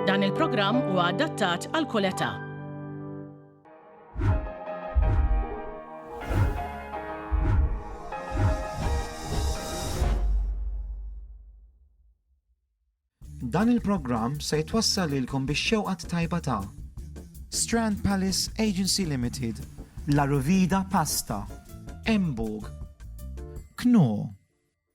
Dan il-programm huwa adattat għal kull età. Dan il-programm se jitwassal lilkom bix-xewqat tajba ta' Strand Palace Agency Limited, La Ruvida Pasta, Embog, Kno,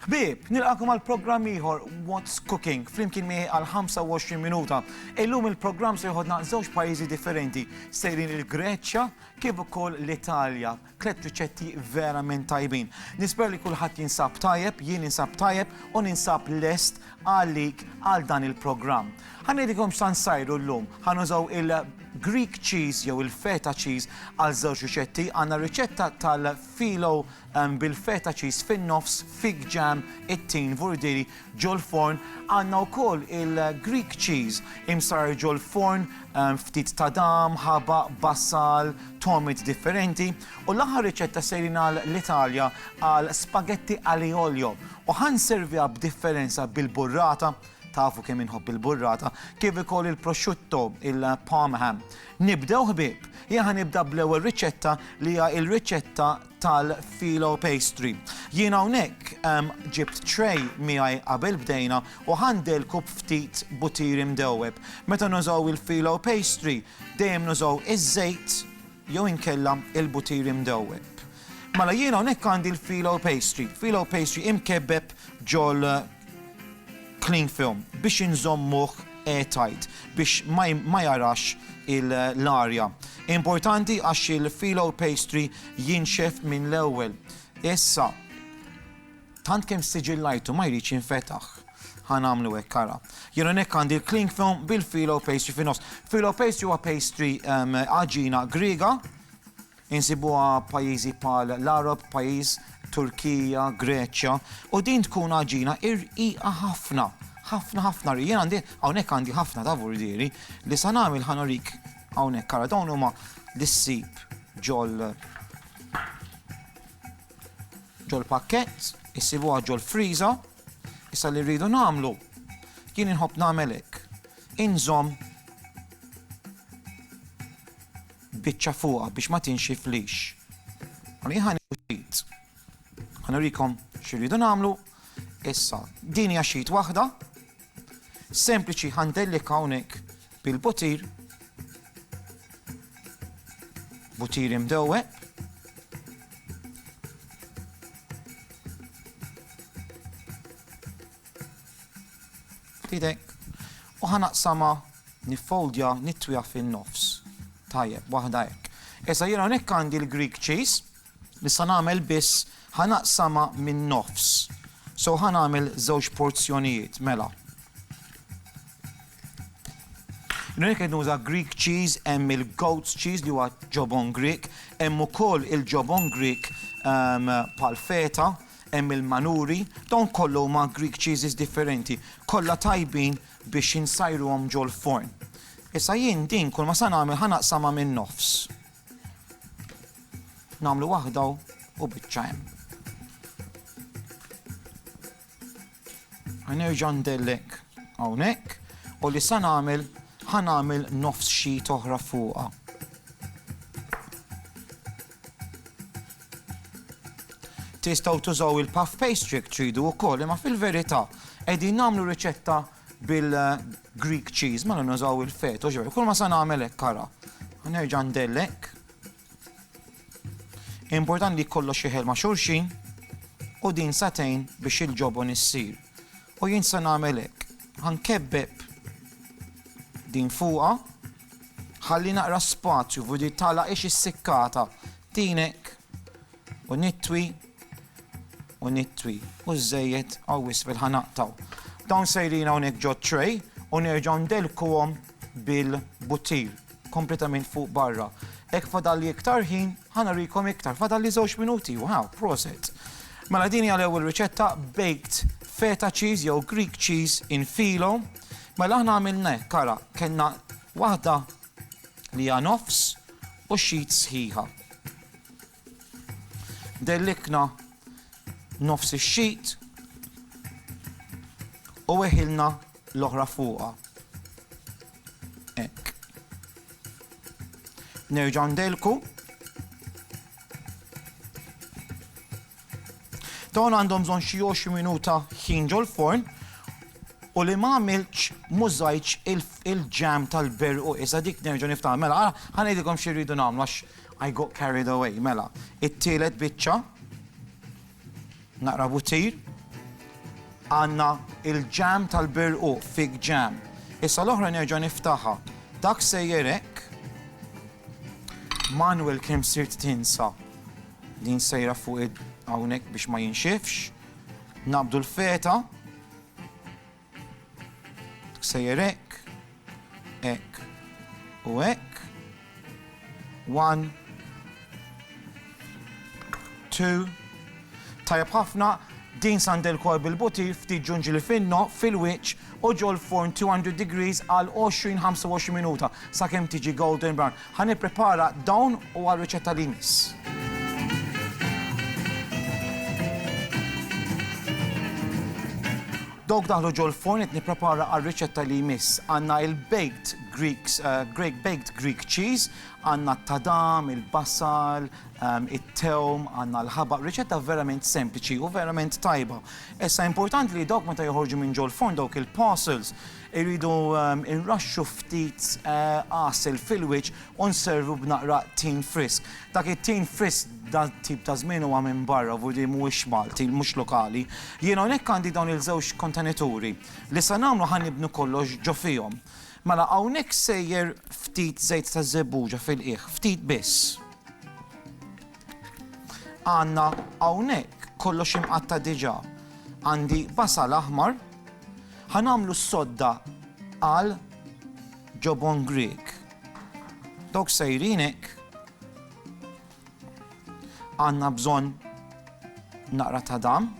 Ħbieb, nilqakom għal programm ieħor What's Cooking flimkien miegħi għal 25 minuta. Illum il-programm se jħodna żewġ pajjiżi differenti, sejrin il-Greċja kif ukoll l-Italja. Tlet riċetti verament tajbin. Nisper li kulħadd jinsab tajjeb, jien insab tajjeb u ninsab lest għalik għal dan il-programm. Ħanedikom x'tan sajru llum, ħanużaw il- Greek cheese jew il-feta cheese għal żewġ riċetti għandna riċetta tal-filo Bil-feta cheese fin-nofs, fig jam, it-tin, vurdiri ġol-forn, għandna wkoll il-Greek cheese imsarrar ġol-forn, ftit tadam, ħabaq, basal, togħmiet differenti, u l-aħħar riċetta sejrin għal l-Italja għal spaghetti ali olio u ħa nserviha b'differenza bil-burrata, tafu kemm inħobb il-burrata, kif ukoll il-prosciutto, il-parm ham. Nibdew ħbieb? Jien ħa nibda bl-ewwel riċetta li hija l-riċetta tal-Filo Pastry. Jien hawnhekk ġibt tray miegħi qabel bdejna u ħandilku b'ftit butiri mdewweb. Meta nużaw il-Filo Pastry dejjem nużaw iż-żejt jew inkella il-butiri mdewweb. Mela jien hawnhekk għandi l-Filo Pastry. Filo Pastry imkebbeb ġol Cling film biex inżommuh air tight biex ma jarax l-arja. Importanti għax il-phyllo pastry jinxef minn l-ewwel. Issa, tant kemm ssiġillajtu ma jridx jinfetaħ. Ħa nagħmlu hekk ara. Jien hawnhekk għandi l-cling film bil-phyllo pastry fin-nofs. Phyllo pastry huwa pastry għaġina Griega Insibuha b'pajjiżi bħal l-Għarab, pajjiż, Turkija, Greċja, u din tkun għaġina irqiqa ħafna, ħafna ħafna rqiq. Jien għandi, hawnhekk għandi ħafna ta' vurdieri li sa nagħmel ħa nurik hawnhekk ara dawn huma li ssib ġol ġol pakkett, issibuha ġol friża, issa li rridu nagħmlu jien inħobb nagħmel hekk. Inżomm biċċa fuqha biex ma tinxiflix. Allura jien ħa nieħu sheet. Ħa nurikom x'irridu nagħmlu. Issa, din hija sheet waħda. Sempliċi ħa ndellik hawnhekk bil-butir. Butir imdewwe. F'idejk. U ħa naqsamha, niffoldja, nitwiha fin-nofs. Tajjeb, waħda hekk. Issa jien hawnhekk għandi l-Greek cheese li se nagħmel biss ħa naqsamha min-nofs. So ħa nagħmel żewġ porzjonijiet, mela. Jien hawnhekk qed nuża Greek cheese, hemm il-goat's cheese li huwa ġobon Grieg, hemm ukoll il-ġobon Grieg ehm, bħal feta, Hemm il-manuri, dawn kollha huma Greek cheeses differenti, kollha tajbin biex insajruhom ġol-forn. Issa jien din kull ma sa nagħmel ħa naqsamha min-nofs. Nagħmlu waħda hawn u biċċa hemm. Ħa nerġa' ndellek hawnhekk u li sa nagħmel ħa nagħmel nofs sheet oħra fuqha. Tistgħu tużaw il-puff pastry tridu wkoll, imma fil-verità qegħdin nagħmlu riċetta bil-Greek cheese, mela nużaw il-feto, ġew, kull ma sa nagħmel hekk ara. Nerġa' ndellek. Important li kollox jeħel ma' xulxin u din sa tgħin biex il-ġobon issir. U jien se nagħmel hekk, ħa nkebbeb din fuqha, ħalli naqra spazju u din tagħlaqx is-sikkata tinek u nitwi u nitwi u żejjed għaw wisfel ħa naqtaw. Dawn sejrin hawnhekk ġo tray u nerġgħu ndelkuhom bil-butir. kompletament fuq barra. Hekk fadalli iktar ħin, ħa nurikom iktar, fadalli żewġ minuti, wow, proset. Mela din hija l-ewwel riċetta baked feta cheese jew Greek cheese in filo. Mela aħna għamilna hekk ara, kellna waħda li hija nofs u xit sħiħa. Dellikna nofs ix-sheet u weħilna l-oħra fuqha. Hekk. Nerġa' ndellku. Dawn għandhom bżonn xi 20 minuta ħin ġol-forn u li ma għamilx mużajċ il-ġam tal-berqu isa dik nerġa' niftaħ. Mela, ħanejdilkom xi rridu nagħmlu għax I got carried away, mela, it-tielet biċċa, naqra buttir, għandna il-ġam tal-birquq, fig ġam. Issa l-oħra nerġa' niftaħha. Dak sejjer hekk. Manuel kemm sirt tinsa din sejra fuq hawnhekk biex ma jinxifx. Nabdu l-feta. Sejjer hekk, hekk u hekk. One, two. Tajjeb ħafna, din sandel kol bil-buti ftit ġunġili finno fil-wiċċ u ġol-furn 200 degrees għal 20-25 minuta sakemm tiġi golden brown. Ħa nipprepara dawn u għar-riċetta li jmiss. Dawk daħlu ġol-forn qed nipprepara għar-riċetta li jmiss. Għandna il-baked Greeks, eh, Greek baked Greek cheese, għandna t-tadam, il-basal, ehm, it-tewm, għandna l-ħabaq, riċetta verament sempliċi u verament tajba. Issa importanti li dawk meta joħorġu minn ġol-forn dawk il-parcels Irridu nraxxu ftit għasel fil-wiċċ u nservu b'naqra tin frisk. Dak it-tin frisk dal-tip ta' żmien huwa minn barra, vuol dire mhuwiex Malti, mhux lokali. Jien hawnhekk għandi dawn il-żewġ kontenituri. Li se nagħmlu ħa nibnu kollox ġo fihom. Mela hawnhekk sejjer ftit żejt taż-żebbuġa fil-qiegħ, ftit biss. Għandna hawnhekk kollox imqatta' diġà. Għandi basal aħmar. Ħa nagħmlu s-sodda għal ġobon Grieg. Dawk sejrin hekk. Għandna bżonn naqra ta' dam.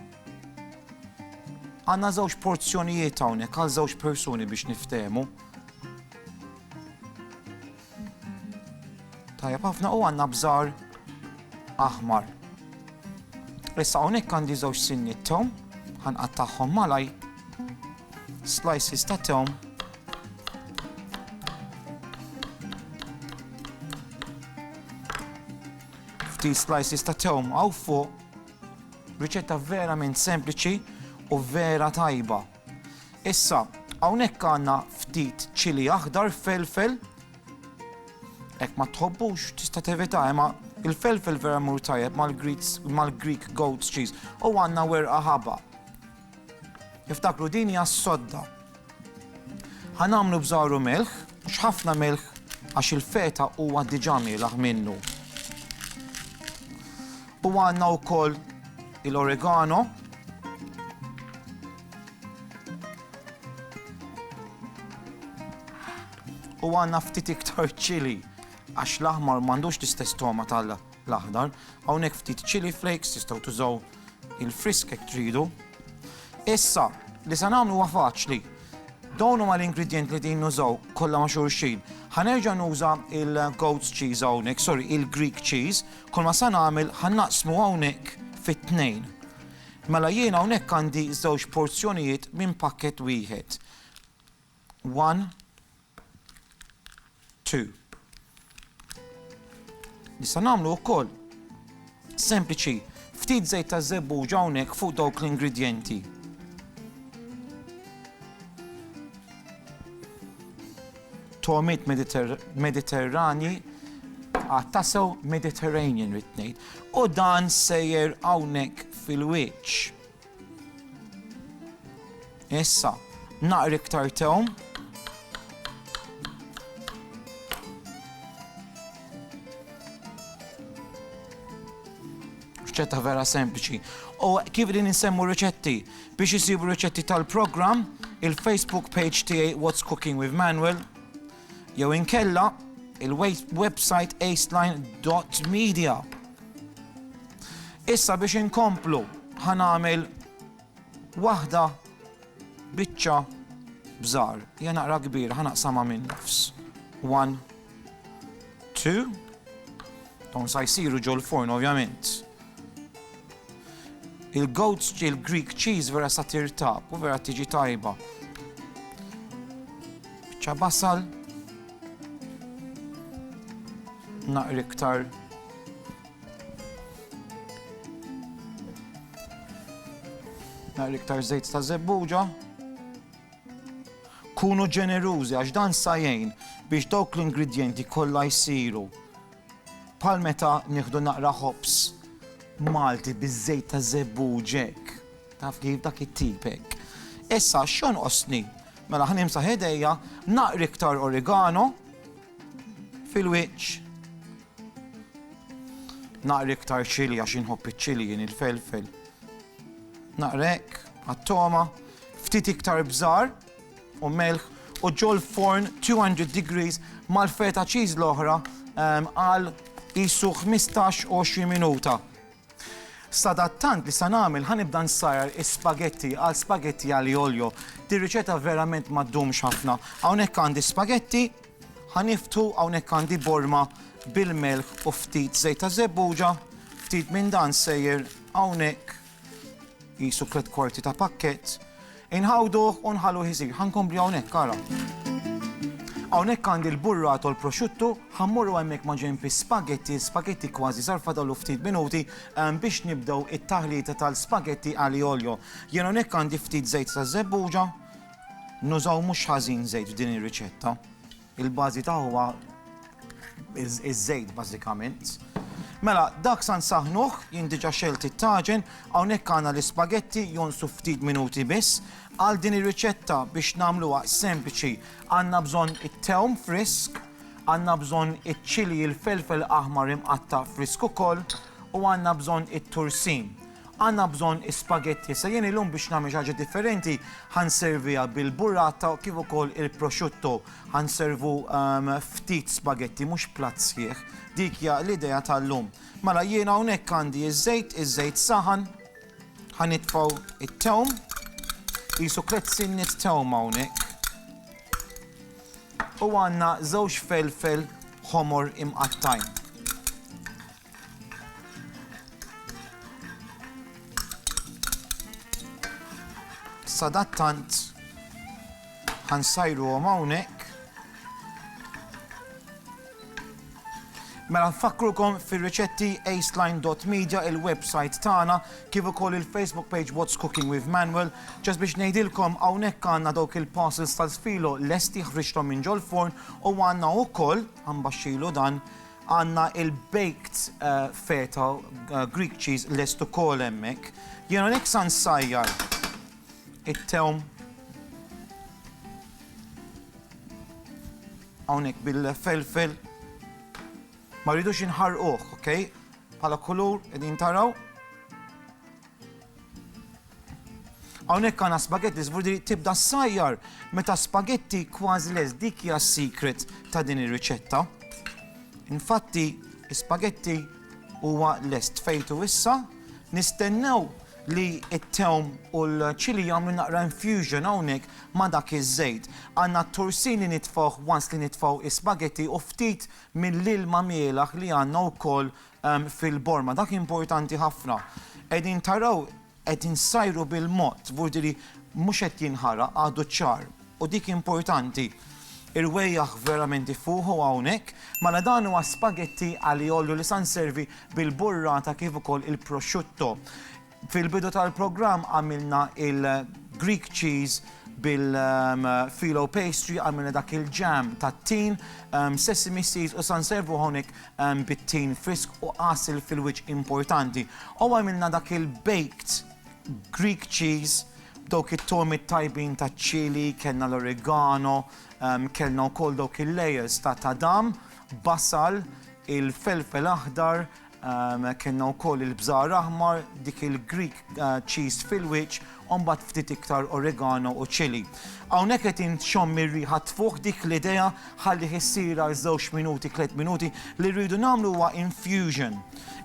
Għandna żewġ porzjonijiet hawnhekk għal żewġ persuni biex niftehmu. Tajjeb ħafna u għandna bżar aħmar. Issa hawnhekk għandi żewġ sinni tom, ħanqattagħhom malaj slices ta' tom. Ftit slices ta' tom għaw fuq. Riċetta verament sempliċi u vera tajba. Issa, hawnhekk għandna ftit ċili aħdar felfel. Hekk ma tħobbux tista' tevita imma il-felfel vera mur tajjeb mal-Greek goat cheese u għandna werqa ħaba. Iftakru din hija s-sodda. Ħanamlu bżaru melħ, mhux ħafna melħ għax il-feta huwa diġà mielaħ minnu. U għandna wkoll il-oregano. U għandna ftit iktar ċili għax l-aħmar m'għandux l-istess toma tal-aħdar. Hawnhekk ftit ċili flakes tistgħu tużaw il-frisk hekk tridu. Issa, li se nagħmlu huwa faċli. Dawn huma l-ingredient li din nużaw kollha ma' xulxin. Ħanerġa' nuża il-goat's cheese hawnhekk, sorry, il-Greek cheese, Kulma se nagħmel ħa naqsmu hawnhekk fi tnejn. Mela jien hawnhekk għandi żewġ porzjonijiet minn pakkett wieħed. One, two. Nista' nagħmlu wkoll sempliċi ftit żejt ta' żebbuġ hawnhekk fuq dawk l-ingredjenti. Togħmiet Mediterranji għad tasew Mediterranean rid ngħid. U dan sejjer hawnhekk fil-wiċċ. Issa, naqri iktar tewm. Riċetta vera sempliċi. U kif din insemmu riċetti? Biex isibu riċetti tal-programm, il-Facebook page tiegħi What's Cooking with Manuel, jew inkella il-website aceline.media. Issa biex inkomplu ħanamel waħda biċċa bżar, jena naqra kbir, ħanaqsama minn nofs. One. Two. Dawn sa jsiru ġol forn ovvjament. Il-goat, il-Greek cheese vera sa tirtab u vera tiġi tajba. Bċa basal. Naqri iktar naqri iktar zejt ta' zebbuġa. Kunu ġenerużi għax dan sa jgħin biex dawk l-ingredjenti kollha jsiru bħal meta nieħdu naqra ħobż Malti biż-żejt taż-żebbuġ hekk, taf kif, dak it-tip hekk. Issa x'jonqosni? Mela ħa nimsaħ idejja, naqra iktar origano fil-wiċċ. Naqra iktar ċili għax inħobb iċ-ċili jien il-felfel. Naqra hekk, għat-toma. Ftit iktar bżar u melħ u ġol forn 200 degrees mal-feta cheese l-oħra ehm, għal jisu 15-20 minuta. Sadattant li sa nagħmel ħanibda nsajjar is-spaghetti għal spaghetti għal oljo. Di riċeta verament ma ddumx ħafna. Hawnhekk għandi spaghetti, ħaniftu hawnhekk għandi borma bil-melħ u ftit żejt ta' żebbuġa, ftit minn dan sejjer hawnhekk Qisu tliet kwarti ta' pakkett. Inħawduh u nħalluh isir. Ħa nkompli hawnhekk ara. Hawnhekk għandi l-burrata u l-prosciutto, ħa mmorru hemmhekk ma' ġenb is-spaghetti, l-spaghetti kważi sar fadallu ftit minuti ehm, biex nibdew it-taħlita tal-spaghetti ali olio. Jien hawnhekk għandi ftit żejt taż-żebbuġa, nużaw mhux ħażin żejt f'din ir-riċetta. Il-bażi ta' huwa iż-żejt bażikament. Mela, dak sa nsaħħnuh, jien diġà xegħlt it-taġen, hawnhekk għandna l-ispagetti jonqsu ftit minuti biss. Għal din ir-riċetta biex nagħmluha sempliċi għandna bżonn it-tewm frisk, għandna bżonn iċ-ċilji l-felfel aħmar imqatta' frisk ukoll u għandna bżonn it-tursin. Għandna bżonn is-spaghetti, issa jien illum biex nagħmel xi ħaġa differenti ħa nserviha bil-burrata kif ukoll il-prosciutto. Ħa nservu ftit spaghetti mhux platt sħiħ. Dik hija l-idea tal-lum. Mela jiena hawnhekk għandi ż-żejt, iż-żejt saħan, ħa nitfgħu t-tewm, qisu tliet sinniet tewm hawnhekk. U għandna żewġ felfel ħomor imqattgħin. Sadattant ħansajruhom hawnhekk. Mela nfakrukom fir-riċetti aceline.media il-website tagħna kif ukoll il-Facebook page What's Cooking with Manuel. Ġas biex ngħidilkom hawnhekk għandna dawk il-parcels tal-sfilo lesti ħriġthom minn ġol-forn u għandna wkoll ambaxxilu dan Għandna il-baked feta Greek cheese lest ukoll hemmhekk. Jien hawnhekk sa nsajjar it-tewm hawnhekk bil-felfel. Ma rridux inħarquh, okej? Bħala kulur qegħdin taraw. Hawnhekk għandna spaghetti żgur li tibda ssajjar meta spaghetti kważi les dik hija s-secret ta' din ir-riċetta. Infatti, spaghetti huwa lest fejtu issa, nistennew li t-tewm u l-ċili jagħmlu naqra infusion hawnhekk ma' dak iż-żejt. Għandna t-torsin li nitfgħuh once li nitfgħu spaghetti u ftit mill-ilma mielaħ li għandna wkoll fil-borma. Dak importanti ħafna. Qegħdin taraw qed insajru bil-mod, vurdiri mhux qed jinħaraq għadu ċ-ċagħar. U dik importanti. Irwejjaħ verament ifuħu hawnhekk. Mela dan huwa spaghetti aglio olio li sa nservi bil-burrata kif ukoll il-prosciutto. Fil-bidu tal-programm għamilna il-Greek cheese bil-filo um, pastry, għamilna dak il-ġam tat-tin, um, sesame seeds u san servu honik um, bit-tin frisk u qasil fil-wiċ importanti. U għamilna dak il-baked Greek cheese dawk it-tomi tajbin ta' ċili, kellna l-oregano, um, kellna wkoll dawk il-layers ta' tadam, basal, il-felfel aħdar, Kellna wkoll il-bżar aħmar, dik il-Greek cheese fil-wiċċ, u mbagħad ftit iktar oregano u chili. Hawnhekk qed inxomm ir-riħa tfuħ dik l-idea ħallih issir għal żewġ minuti, tliet minuti, li rridu nagħmlu huwa infusion.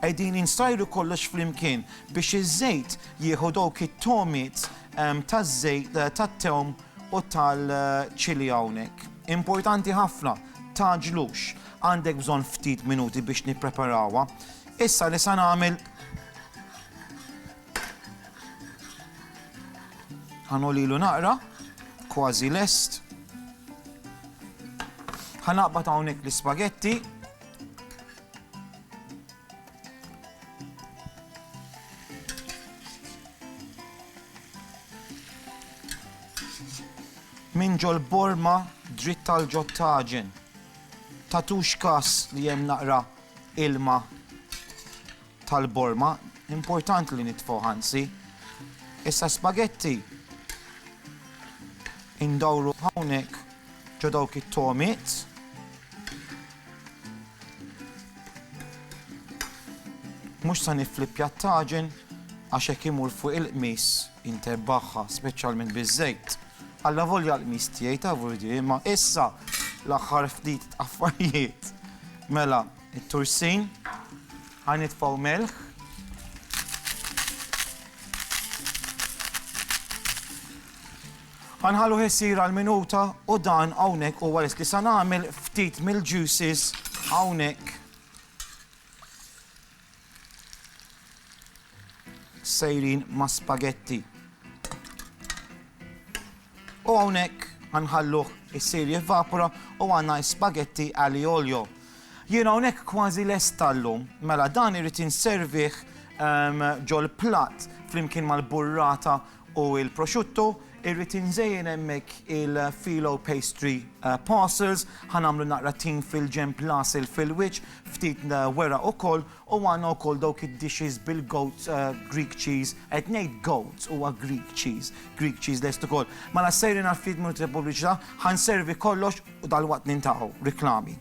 Qegħdin insajru kollox flimkien biex iż-żejt jieħu dawk it-togħmiet taż-żejt tat-tewm u tal-chili hawnhekk. Importanti ħafna. tgħaġġlux. Għandek bżonn ftit minuti biex nippreparawha. Issa li sa nagħmel ħanolilu naqra, kważi lest. Ħanaqbad hawnhekk l-ispagetti. Min ġol borma dritt tal ġod taġen. Tagħtux kas li hemm naqra ilma tal borma, importanti li nitfgħuh anzi. Issa spagetti indawru hawnhekk ġo dawk it-tomiet. Mhux sa niflippja t-taġen għax hekk imur fuq il-qmis. Intebbagħha speċjalment biż-żejt. Allavolja l-qmis tiegħi ta' vurdie imma issa l-aħħar ftit affarijiet. Mela, it-tursin, ħa nitfgħu melħ. Ħanħallu ħessir għal minuta u dan hawnhekk huwa lest li sa nagħmel ftit mill-juices hawnhekk. Sejrin ma' spagetti. U hawnhekk ħanħalluh isir jivvapora u għandna spagetti ali olio. Jien hawnhekk kważi lest tal-lum, mela dan irid inservih ehm, ġol-platt flimkien mal-burrata u il-prosciutto, irrid inżejjen hemmhekk il-filo pastry parcels, ħa nagħmlu naqra tin fil-ġenb l-għasel fil-wiċċ, ftit weraq ukoll u għandna wkoll dawk id-dishes bil-goat Greek cheese, qed ngħid goat huwa Greek cheese, Greek cheese lest ukoll. Mela sejrin għall-Fleet Minute Repubbliċità, ħa nservi kollox u dalwaqt nintaqgħu. Riklami.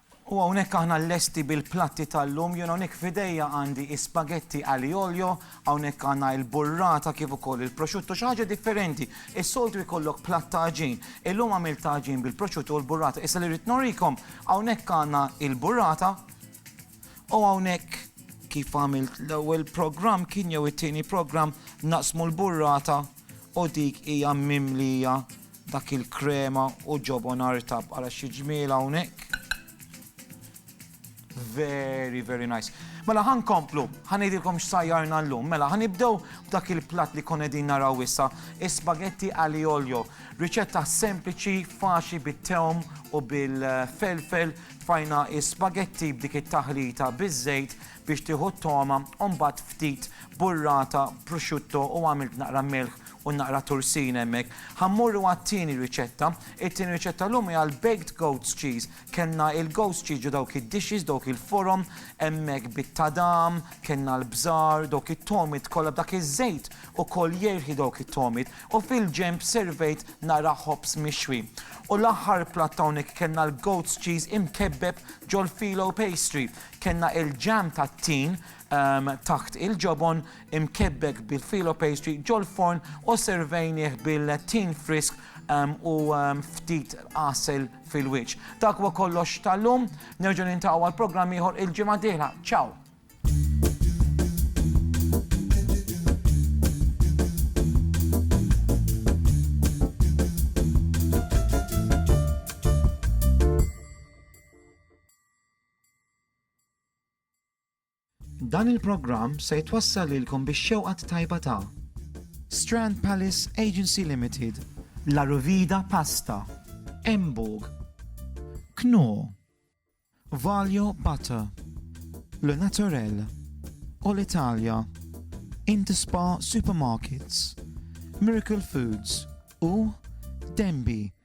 U hawnhekk aħna lesti bil-platti tal-lum, jien hawnhekk f'idejja għandi is-spaghetti aglio olio, hawnhekk għandna il-burrata kif ukoll il-prosciutto, xi ħaġa differenti. Is-soltu jkollok platt ta' għaġin, illum għamilt ta' għaġin bil-prosciutto u l-burrata. Issa li rrid nurikom, hawnhekk għandna il-burrata u hawnhekk kif għamilt l-ewwel programm kien jew it-tieni programm naqsmu l-burrata u dik hija mimlija Dak il-krema u ġobon artab għala xi ġmiel hawnhekk. Very, very nice. Mela ħan komplu, ħan idilkom x'sajjarna l-lum. Mela ħan ibdew b'dak il-plat li kon edin naraw issa, spaghetti ali olio. Riċetta sempliċi, faċi bit-teom u bil-felfel, fajna spaghetti b'dik it-taħlita biż-żejt biex tieħu t-toma, mbagħad ftit burrata, prosciutto u għamilt naqra milħ u naqra tursin hemmhekk. Ħa mmorru għat-tieni riċetta. It-tieni riċetta llum hija l-baked goat's cheese. Kellna il-goat's cheese ġo dawk id-dishes, dawk il-forom, hemmhekk bit-tadam, kellna l-bżar, dawk it-togħmiet kollha b'dak iż-żejt ukoll jierħi dawk it-togħmiet, u fil-ġenb servejt naqra ħobż mixwi. U l-aħħar platt hawnhekk kellna l-goat's cheese imkebbeb ġol-phyllo pastry. Kellna il-jam tat-tin taħt il-ġobon, imkebbek bi filo pastry ġol-forn u sservejnieh bil-tin frisk u ftit għasel fil-wiċċ. Dak huwa kollox tal-lum, nerġgħu nintaqgħu għal programm ieħor il-ġimgħa d-dieħla. Ciao! Dan il-programm se jitwassal lilkom bix-xewqa t-tajba ta'. Strand Palace Agency Limited. La Ruvida Pasta. Emburg. Knorr. Valio Butter. Le Naturel. All Italia. Interspar Supermarkets. Miracle Foods. U Denby.